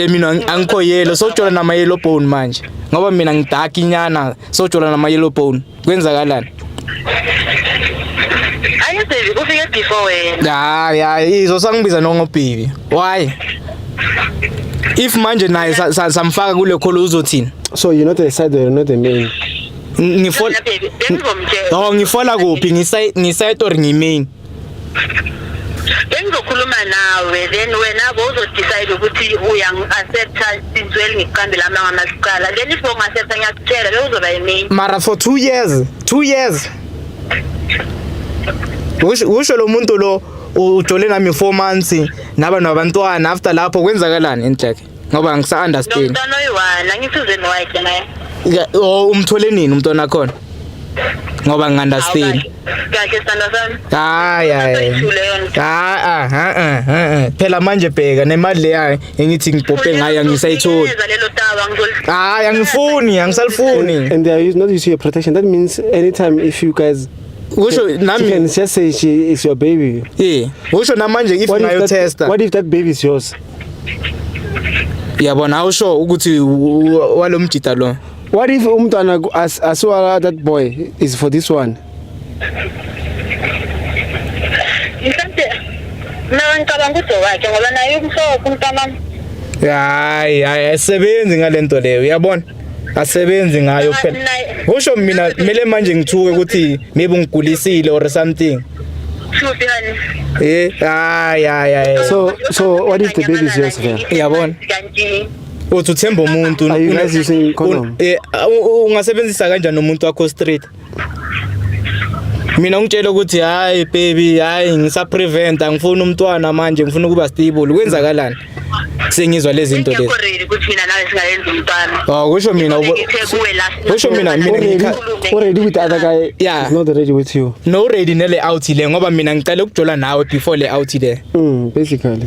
Eh, mina ang- angikho yellow sojola nama yellow bone manje ngoba mina ngidark inyana sojola nama yellow bone kwenzakalani Ayi baby kufike before wena. hayi hayi izo sangibiza nongobhibi why if manje naye sa- sa- samfaka kule kholo uzothini So you're not a side or you're not a main. Ng- ngifola Mina baby bengizomtshela. oh ngifola kuphi ngisay ngisaytor ngimain bengizokhuluma nawe then wena bo uzodecide ukuthi uyangi-accepta since well ngikuqambile amanga masicala then if bongi-accepta ngiyakutshela bewuzoba yimini mara for two years two years usho lo muntu lo ujole nami four months naba nabantwana after lapho kwenzakalani intleke ngoba ngisa understand nomntwana oyiwana angisizeni wayike naye oh umthole nini umntwana wakhona ngoba ngingandastand kahle sithando sami hayi hayi ha ha ha phela manje bheka nemali leya engithi ngibhophe ngayo angisayitholi hayi angifuni angisalifuni and there is not issue of protection that means anytime if you guys usho nami she can just say she is your baby yeah usho namanje if ngayo tester what if that baby is yours yabona awusho ukuthi walo mjita lo what if umntwana asiwa that boy is for this one mhlawumbe mina ngicabanga ukuthi wakhe ngoba naye umhlobo umntanami hayi hayi ayisebenzi ngalento leyo uyabona asebenzi ngayo phela usho mina kumele manje ngithuke ukuthi maybe ngigulisile or something eh hayi hayi so so what is the baby's yours vela yabona uthi uthemba umuntu eh, ungasebenzisa kanjani umuntu wakho street mina ungitshela ukuthi hayi baby hayi ngisa prevent angifuni umntwana manje ngifuna ukuba stable kwenzakalani sengizwa lezi zinto lezi ukuthi mina nawe singayenza umntwana oh kusho mina kusho mina mina already with other guy yeah is not ready with you no ready nele out le ngoba mina ngicela ukujola nawe before le out le mm basically